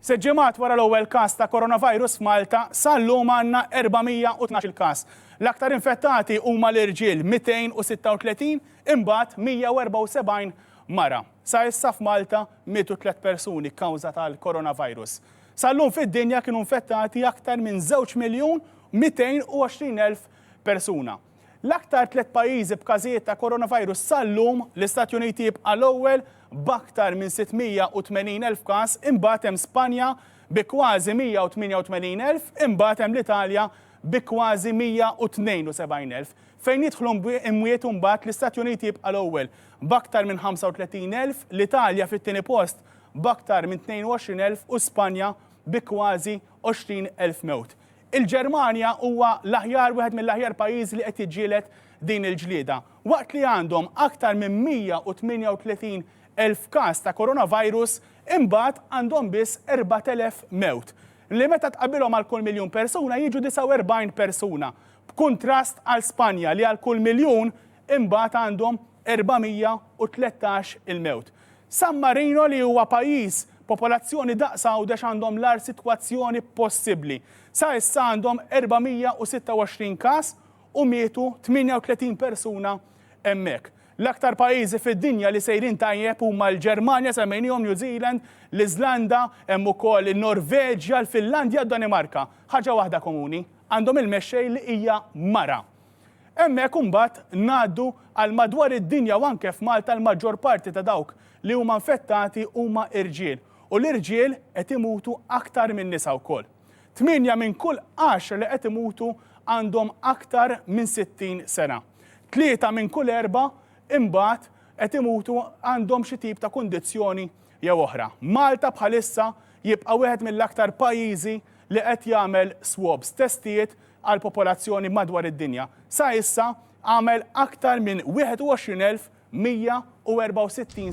Sitt ġimgħat wara l-ewwel każ ta' Coronavirus f'Malta, sal-lum għandna 412-il każ. L-aktar infettati huma l-irġiel, 236, imbagħad 174 mara. Sa issa f'Malta mietu tliet persuni kkawża tal-Coronavirus. Sal-lum fid-dinja kienu infettati aktar minn żewġ miljun 220 elf persuna. L-aktar tliet pajjiżi b'każijiet ta' Coronavirus sal-lum, l-Istati Uniti jibqa' l-ewwel b'aktar minn 680,000 każ, imbagħad hemm Spanja bi kważi 188,000, imbagħad hemm l-Italja bi kważi 172,000. Fejn jidħlu imwiet imbagħad l-Istati Uniti jibqa' l-ewwel b'aktar minn 35,000, l-Italja fit-tieni post b'aktar minn 22,000 u Spanja bi kważi 20,000 mewt. Il-Ġermanja huwa l-aħjar wieħed mill-aħjar pajjiżi li qed jiġġieled din il-ġlieda. Waqt li għandhom aktar minn 138 elf każ ta' coronavirus, imbagħad għandhom biss 4,000 mewt, li meta tqabbilhom għal kull miljun persuna jiġu 49 persuna, b'kuntrast għal Spanja li għal kull miljun imbagħad għandhom 413 il-mewt. San Marino li huwa pajjiż popolazzjoni daqs Għawdex għandhom l-agħar sitwazzjoni possibbli. Sa issa għandhom 426 każ u mietu 38 persuna hemmhekk. L-aktar pajjiżi fid-dinja li sejrin tajjeb huma l-Ġermanja, semmejniehom, New Zealand, l-Iżlanda, hemm ukoll in-Norveġja, l-Finlandja u d-Danimarka. Ħaġa waħda komuni, għandhom il-mexxej li hija mara. Hemmhekk imbagħad ngħaddu għal madwar id-dinja u anke f'Malta l-maġġor parti ta' dawk li huma infettati huma irġiel u l-irġiel qed imutu aktar min-nisa wkoll. Tmienja minn kull għaxra li qed imutu għandhom aktar minn 60 sena. Tlieta minn kull erba' imbagħad qed imutu għandhom xi tip ta' kundizzjoni jew oħra. Malta bħalissa jibqa' wieħed mill-aktar pajjiżi li qed jagħmel swabs, testijiet għall-popolazzjoni madwar id-dinja. Sa issa għamel aktar minn 21,164